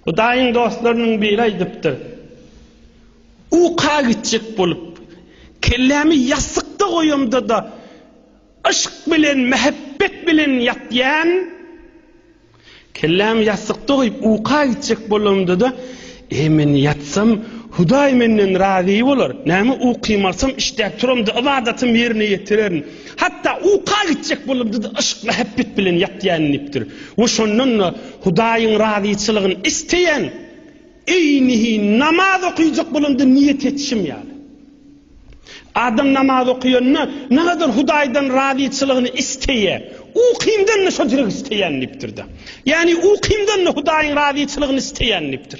Hudaýyň dostlarynyň biri aýdypdyr, Uka gitjek bolup, kellämi ýassykda goýamda-da, yşk bilen, mähebbet bilen ýatýan, kellämi ýassykda goýup, uka gitjek bolamda-da, Eý, men ýatsam, Hudaý menden razy bolar. Näme ukymy alsam, işdäp turamda, ybadatym ýerine ýetirerin. Hatda uka gitjek bolamda-da, yşk, mähebbet bilen ýatýan diýipdir. We şondan-da Hudaýyň razyçylygyny isleýän eýnihi namaz okaýjak bolanda niýet etişim ýaly. Adam namaz okaýanda nagadyr Hudaýdan razyçylygyny isleýä, ukymdan-da şo jire isleýän diýipdir-de. Ýagny ukymdan-da Hudaýyň razyçylygyny isleýän diýipdir.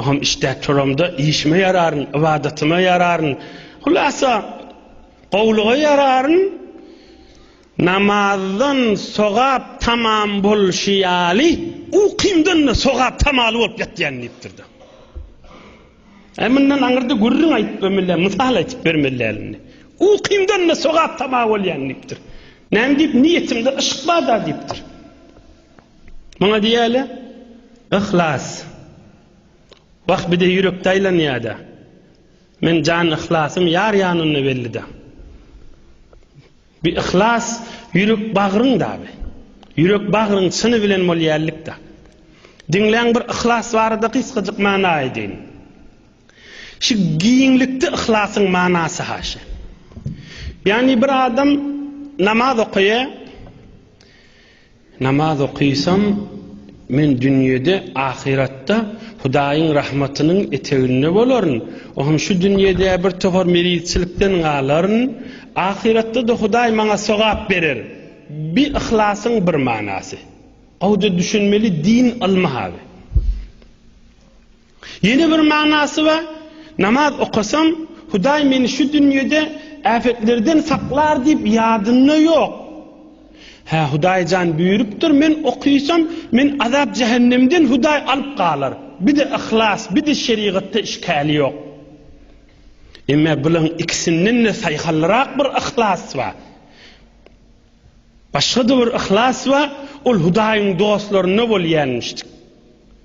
Oňam işdäp turamda işime ýararyn, ybadatyma ýararyn. Hulasa, gowulyga ýararyn. Namazdan sogap tamam bolşy ýaly, ukymdan-da sogap tamaly bolup ýatýan diýipdir-de. Äý, mundan aňyrda gürrüň aýdyp ömürler, mysal aýdyp bermeliler indi. Ukymdan-da sogap tama bolýan diýipdir. Näme diýip, niýetimde yşk bar-da diýipdir. Muňa diýýärler yhlas. Wah bide ýürekde aýlanýada. Men jan yhlasym ýar ýanynda bellida. Bi yhlas ýürek bagryň dabi. Ýürek bagryň çyny bilen bolýarlykda. Diňläň bir yhlas barada gysgajyk mana aýdaýyn. Şu giňlikde yhlasyň manasy haşa. Ýani bir adam namaz okaýa. Namaz okyýsam, men dünýede, ahyratda Hudaýyň rahmatynyň eteginde bolaryn, o hem şu dünýede bir tohar meriçilikden galaryn, ahyratda-da Hudaý maňa sogap berer. Bi yhlasyň bir manasy. Gowja düşünmeli din ylmy haby. Ýene bir manasy bar, Namaz okasam, Hudaý meni şu dünýede äpetlerden saklar diýip ýadynda ýok. Hä, Hudaý jan buýrupdyr, men okysam, meni azap-jähennemden Hudaý alyp galar. Bir-de yhlas, bir-de şerigatda işgäli ýok. Emma bularyň ikisinden-de saýhallyrk bir yhlas bar. Başga-da bir yhlas bar, ol Hudaýyň dostlarynda bolýarmyşdyk.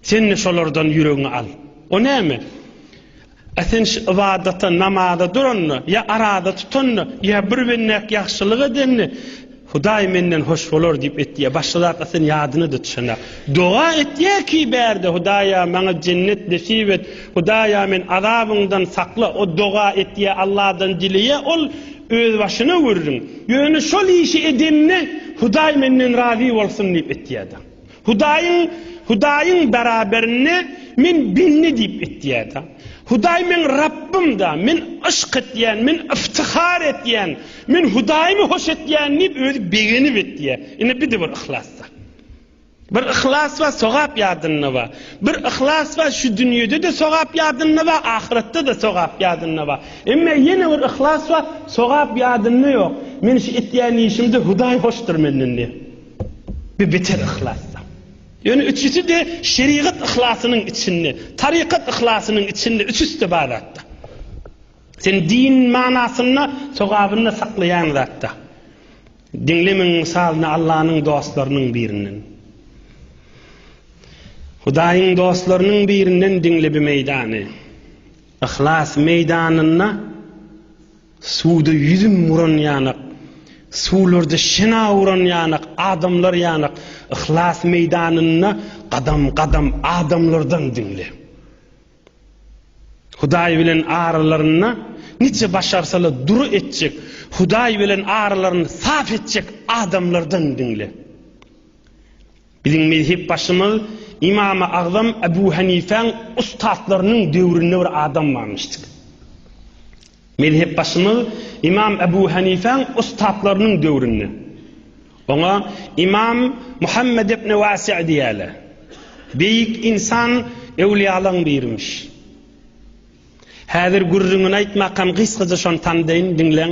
Sen-de şolardan ýüregiňe al. O näme? A sen şu ybadata, namaza duranda, ýa araza tutanda, ýa bir bendäk ýagşylyk edende, Hudaý menden hoş bolar diýip etýä. Başga zatlar seniň ýadyňa-da düşenok. Doga etýä ki bärde, Hudaýa, maňa jennet nesip et, Hudaýa, meni azabyňdan sakla. O doga etýä, Alladan dileýä, ol özbaşyna gürrüň. Ýöne şol işi edende, Hudaý menden razy bolsun diýip etýä-de. Hudaýyň, Hudaýyň beraberinde Men bendi diýip etýär-de. Hudaý meň Rabbym-da, Men yşk etýän, Men yftyhar etýän, Men Hudaýymy hoş etýän diýip özi begenip etýär. Ine bide bir yhlas bar. Bir yhlas bar, sogap ýadynda bar. Bir yhlas bar, şu dünýede-de sogap ýadynda bar, ahyretde-de sogap ýadynda bar. Emma ýene bir yhlas bar, sogap ýadynda ýok. Men şu etýän işimde Hudaý hoşdur menden diýip. we beter yhlasda. Ýöne üçüsi-de şerigat yhlasynyň içinde, tarykat yhlasynyň içinde, üçüsi-de bar zatda. Sen din manasynda, sogabynda saklaýan zatda. Diňlemeň mysalyny Allanyň dostlarynyň birinden. Hudaýyň dostlarynyň birinden diňle bi meýdany. Yhlas meýdanynda. Suwda ýüzüm uran ýanak, Suwlarda şina uran ýanak, Adamlar ýanak, Yhlas meýdanynda Gadam-gadam adamlardan diňle. Hudaý bilen aralarynda Niçe başarsala dur etjek, Hudaý bilen aralaryn saf etjek adamlardan diňle. Biziň mezhep başymyz Ymamy Agzam Ebu Hanifäň ussatlarynyň döwründe bir adam barmyş dik. Mezhep başymyz Ymam Ebu Hanifäň ussatlarynyň döwründe. Oňa Ymam Muhammed ibn Wasi' diýýärler. Beýik ynsan öwliýalaň birimiş. Häzir gürrüňini aýtmakam gysgaja şony tandaýyn, diňleň.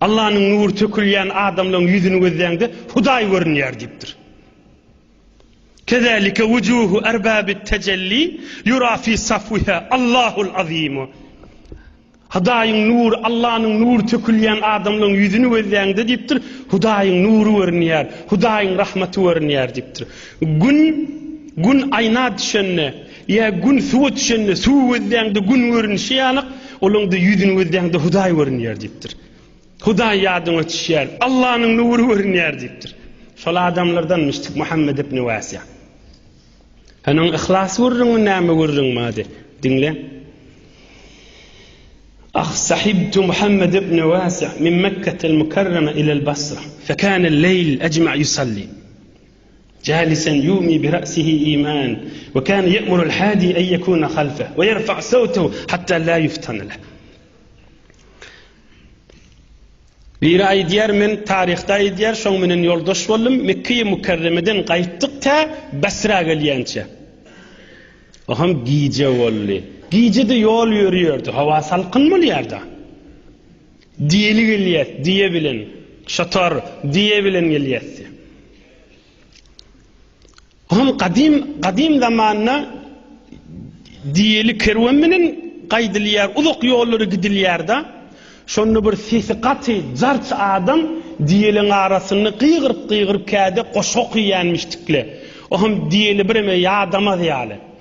Allanyň nury tökülýän adamlaryň ýüzüni gözläňde Hudaý görünýär diýipdir. Kezälike wujuhu erbabit tejelli ýura fi safwiha Allahul azim. Hudaýyň nury, Allanyň nury tökülýän adamlaryň ýüzüni gözläňde diýipdir, Hudaýyň nury görünýär, Hudaýyň rahmaty görünýär diýipdir. Gün gün aýna düşende, Ýa Gün suwa düşende, suwy gözläňde Gün görünişi ýalyk, olaňda ýüzüni gözläňde Hudaý görünýär diýipdir. Hudaý ýadyňa düşýär, Allanyň nury görünýär diýipdir. Şol adamlardanmyşdyk Muhammet ibn Wasi'a. Sen oň yhlas gürrüňi näme gürrüň mady? Diňle. Ah sahibtu Muhammet ibn Wasi'a min Mekketel Mukarrama ilel Basra, fekane leýl ejma' yusalli. Jalisan ýumi bi ra'sihi iman, we kana ýa'muru al-hadi an ýekuna halfa, we ýerfa' sawtahu hatta la ýuftana lah. Biri aýdýar, men taryhda aýdýar, şoň menen ýoldaş boldum, Mekge-i Mükerremeden gaýtdyk tä Basra gelýänçä. O hem gije boldy. Gije-de ýol ýörýärdi, howa salkyn bolýar-da. Diýeli gelýäs, diýe bilen. Şatar, diýe bilen gelýäs, diýýär. Bu hem gadym, gadym zamanda diýeli kerwen bilen gaýdylýar, uzak ýollary gidilýär-de, şonda bir sesi gaty jarç adam diýeliň arasynda gygyryp-gygyryp käde goşgy okýanmyşdykle. O hem diýeli bireme ýadamaz ýaly.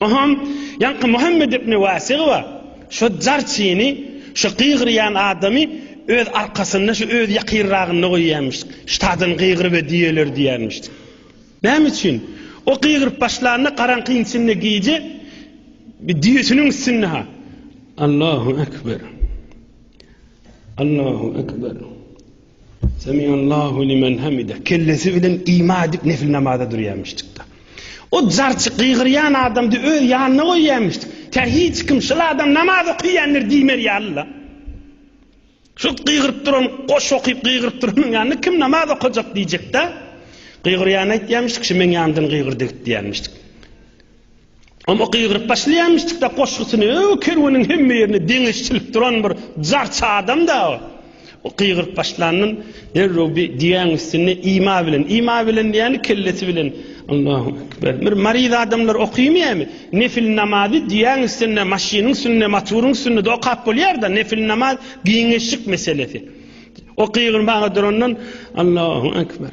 Ohoň, ýaňky Muhammet ibn Wasyga şo jarçyny, şo gygyrýan adamy öz arkasynda, şo öz ýakynragynda goýýarmyş. Ştadan gygyr we düýeler diýermiş. Näme üçin? O gygyryp başlanda garaňkyň içinde gije bir düýesiniň üstünde ha. Allahu ekber. Allahu ekber. Semiallahu limen hamide. Kellesi bilen ima edip nefil namaza durýarmyşdyk da. O jarçy gygyrýan adamdy öz ýanyna goýýarmyşdyk. Tä hiç kim şul adam namaz okýandyr diýmer ýalyla. Şu gygyryp duran, goş okyp gygyryp duranyň ýanyna kim namaz okajak diýjek da. Gygyrýan aýtýarmyşdyk, şu meň ýandan gygyrdy git diýermişdik. Oňa gygyryp başlaýamyşdyk-da goşgusyny, öo, kerweniň hemme ýerine deňeç çilip duran bir jarçy adam-da o. O gygyryp başlandan derrew bir diýäň üstünde ima bilen, ima bilen diýýäni kellesi bilen, Allahü ekber. Bir maryz adamlar okyýmyýämi? Nefil namazy diýäň üstünde, maşynyň üstünde, motoryň üstünde-de okap bolýar-da, nefil namaz giňeşik meselesi. O gygyrmaga durandan, Allahü ekber.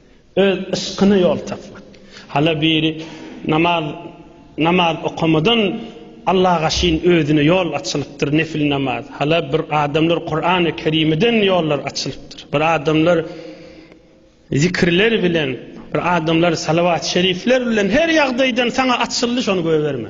Öz yşkyna ýol tapmak. Hala biri namaz namaz okamadan Allaha şin özüne ýol açylypdyr nefil namaz. Hala bir adamlar Kurany Kerimiden ýollar açylypdyr. Bir adamlar zikirler bilen, bir adamlar salawat şerifler bilen her ýagdaýdan saňa açyldy şony göýberme.